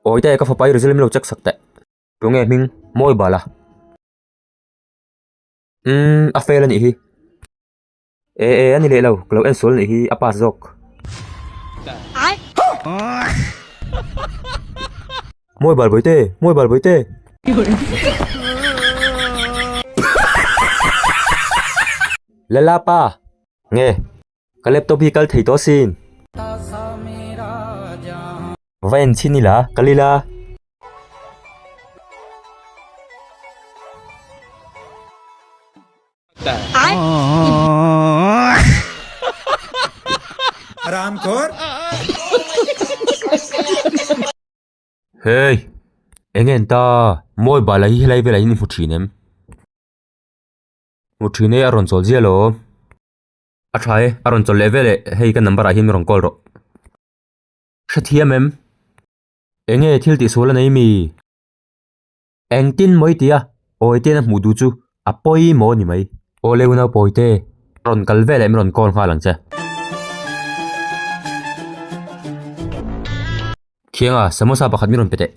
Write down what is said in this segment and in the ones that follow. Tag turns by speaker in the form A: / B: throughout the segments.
A: Awi ta e ka fapa i result milo check sak teh. Tu nge hming mawi bala. Umm a fail anih hi. E e ani leh lo ka lo en sual anih hi a pass zawk. Mawi bal bawi te, mawi bal bawi te. Lala pa. Nge? Ka laptop hi kal thei tawh asin. Va en chin ila, kal ila. Hei! Eng en ta? Mobile a hi helai velah hian i hmu thin em? Hmu thin e a rawn chawl zial aw a tha e a rawn chawl leh veleh hei ka number ah hian min rawn call rawh hrethiam em enge thil tih sual a nei mi engtin mawitia awi ten a hmuh duh chu a pawimawh a ni mai awle unau pawite rawn kal veleh min rawn call nghal ang che thiang a samosa pakhat min rawn pe teh.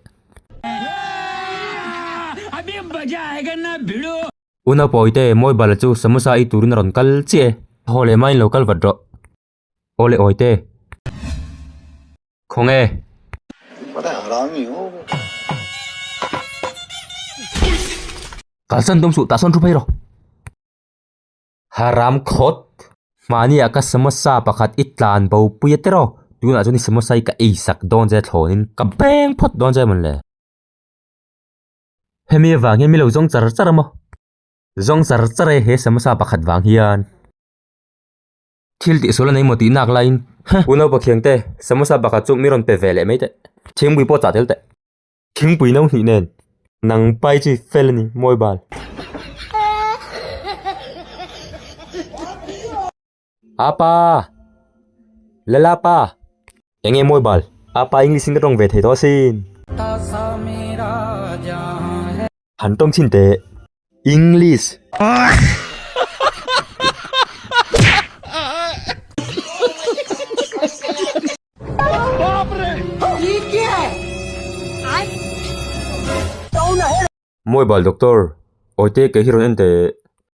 A: U Naupawite, Mawibala chu samosa i turin a rawn kal chiah e. Haw leh mai in lo kal vat rawh. Aw le awite. Khaw nge. Kalsan tum suh tah sawn thu phei rawh. Haram khawt. Hmaniah ka samosa pakhat i tlan bo pui a tir aw. Tunah chuan i samosa i ka ei sak dawn che thlawnin ka beng phawt dawn che maw le. Hemi avang hian milo zawng char char a maw? Zawng char char e he samasa pakhat vang hian. Thil tih sual a nei maw tih nak laiin, Huh! U Naupa Khiang te, samasa pakhat chu mi rawn pe ve leh mai teh. Thingpui pawh chah tel teh. Thingpui no hnih nen. Nang pai chu i fel a ni, Mawibal. A pa! Lala pa! Eng nge Mawibal? A pa English in ka tawng ve thei tawh asin. Han tawng chin teh. English. Mawibal Doctor, awite kei hi rawn en teh.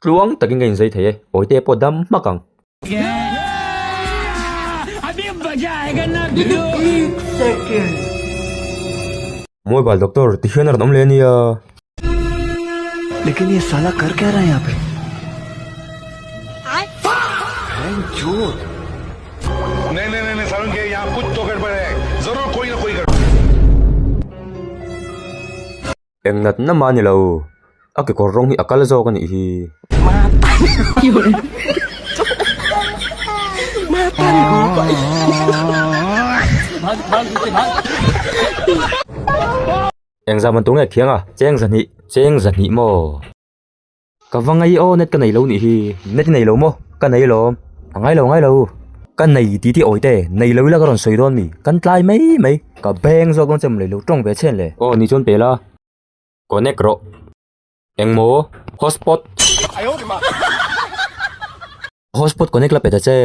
A: Tluang takin ka inzei thei e. Awite pawh dam hmak ang. Mobile doctor ti hian a rawn awm leh nia. Eng nat na mah a ni lo. A kekawr rawng hi a kal zawk a nih hi. Engzah man tur nge a khiang a, cheng zahnih, cheng zahnih maw? Ka va ngai aw net ka nei lo nih hi. Net i nei lo maw? Ka nei alawm. A ngai lo ngai lo. Ka nei tih tih awite nei lo ila ka rawn sawi dawn mi? Kan tlai mai mai. Ka beng zawk dawn chem lei lo tawng ve chhen le. Aw ni chuan pela connect rawh. Engmaw hotspot? Hotspot connect la pe ta che.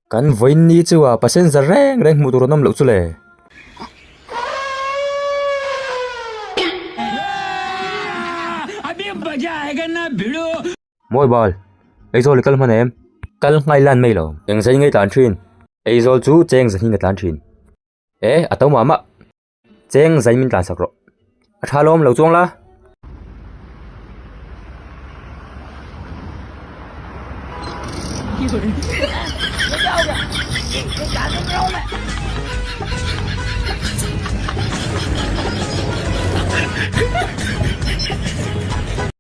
A: Kan vawiinni chuva passenger reng reng hmuh tur an awm loh chu le. Mawi bal, Aizawl i kal hman em? Kal ngai lan mai lo. Eng zai nge tlan thin? Aizawl chu cheng zahnin a tlan thin. E, a to mah mah. Cheng zai min tlansak rawh. A tha lawm lo chuang la.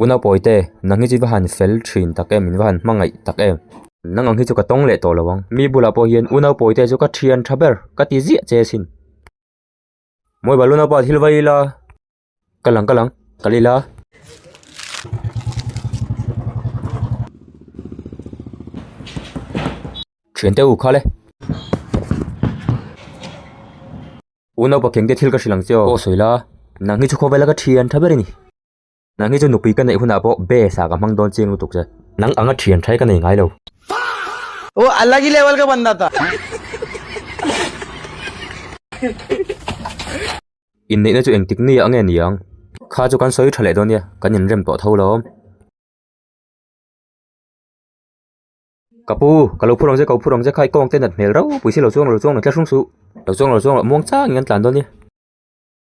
A: U Naupawite, nanghi chi va han fel thin tak em, in va han hmangaih tak em? Nang ang hi chu ka tawng leh tawh lo ang. Mi bulah pawh hian U Naupawite chu ka thian tha ber, ka ti ziah che asin. Mawihbal U Naupa thil va i la. Ka lang, ka lang, ka la i la. Thiante u khal e. U Naupa kengte thil ka hrilh ang che aw. Ka awh sawi la, nanghi chu khawvela ka thian tha ber a ni. Nang hi chu nupui ka neih hunah pawh be sa ka hmang dawn chiang lutuk che. Nang anga thian thai ka nei ngai lo. Fuck! Oh alagi level ka banna ta. Inneihna chu eng tik nia ange niang. Kha chu kan sawi tha leh dawn nia kan in rem tawh tho lawm. Ka pu, ka lo phur ang che ka lo phur ang che kha i kawng te nat hmel ropui si lo chuang lo chuang lo tla hrung suh. Lo chuang lo chuang lo muang chang in kan tlan dawn nia.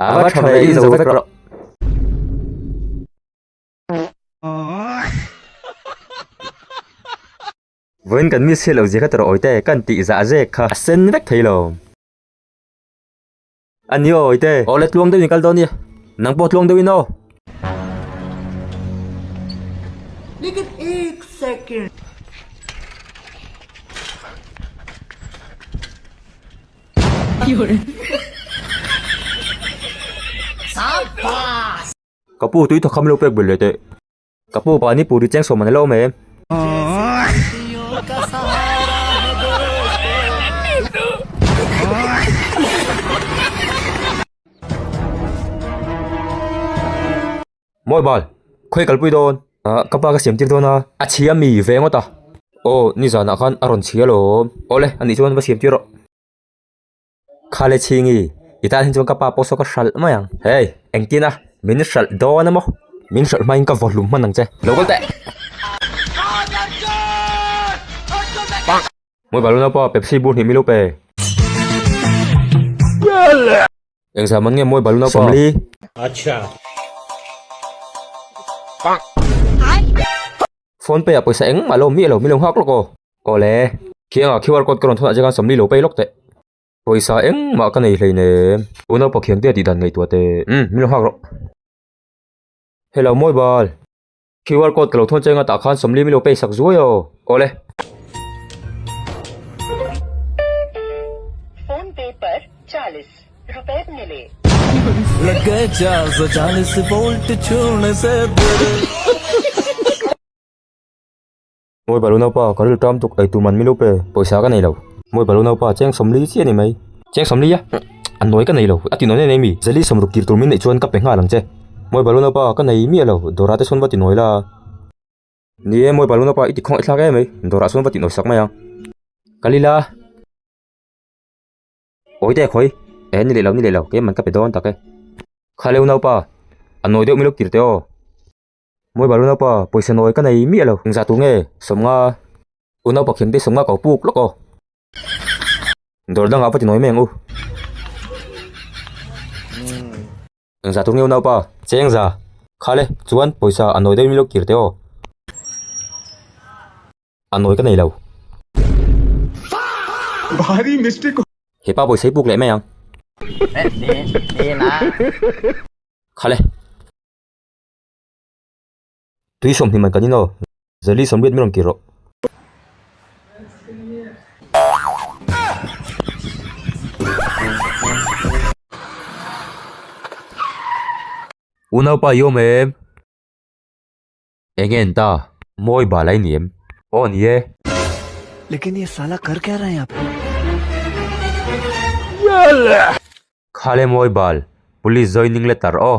A: A va tha ve inzo vek rawh. Vawiin kan miss hi lo zia khat rawh Awite, kan tih zah zek kha a sen vek thei lo. A ni aw Awite. Aw le tluang deuhin kal dawn nia. Nang pawh tluang deuhin aw. Ka pu tui tha kham lo pek ber leh teh. Ka pu pa ni pu ri cheng sawm man alo awm e. Mawi bal, khawi kal pui dawn. Aah, ka pa ka siam tir dawn a. A chhia mi ve ngawt a. Aw, ni zanah khan a rawn chhia lawm. Aw le, anih chuan va siam tir rawh. Khale chhingi, i tan hi chuan ka pa pawh saw ka hralh mai ang. Hei, engtin a, min hralh dawn a maw? Min hralh hmain ka vawhlu hman ang che. Lo kal teh! Mawi bal u nau pa, Pepsi bur hnih mi lo pe. Engzam an ngem mawi bal nau pawh. Phone pay ah pawisa engmah lo mi alo mi lo nghak lawk aw. Awle. Khianga QR code ka rawn thawnah chian sawmli lo pay lawk teh. Pawisa engmah ka nei hleinem. Tuna pawh khiangtea tih dan ngeitua teh. Umm milo nghak rawh. Hello mawi bal. Qr code ka lo thawn cheng a tah khan sawmli milo pay sak zuai aw. Awle. Phone pay par chalis rupees mile. Mawi balu naupa, ka ril ṭam tuk, eitur man milup e, pawisa ka nei lo. Mawi balu naupa, cheng sawm li chiah ni mai. Cheng sawm li a, a nawi ka nei lo, a tinawi nei mi? Zali sawm ruk tir tur min neih chuan ka pe nghal ang che. Mawi balu naupa, ka nei miah lo, Dora te chuan va tinawi la a. Ni e, Mawi balu naupa, i tikhawnga i thlak e mai, Dora chuan va tinawi sak mai ang. Ka li la. Awi dek hawi. E, ni leh lo, ni leh lo, kei man ka pe dawn tak e. Khaleu naupa, a nawi deuh milup tir te aw. Mawi bal u naupa, pawisa nawi ka nei miah lo. Engzah tur nge? Sawmnga. U naupa Khemte sawmnga kau puk lawk aw. Dawr dangah va ti nawi meng u. Engzah tur nge u naupa? Che engzah? Khale, chuan pawisa a nawi deuh ilo kir teh aw. A nawi ka nei lo. Hepa pawisa hi puk leh mai ang. Khale. Tui sawm hnim an kan ino. Zali sawm riat min rawn ti rawh. U naupa i awm em? Eng en ta? Mawi bal a ni em? Aw a ni e. Lekin ye sala kar kya raha hai yahan pe? Kha le mawi bal. Police joining letter aw.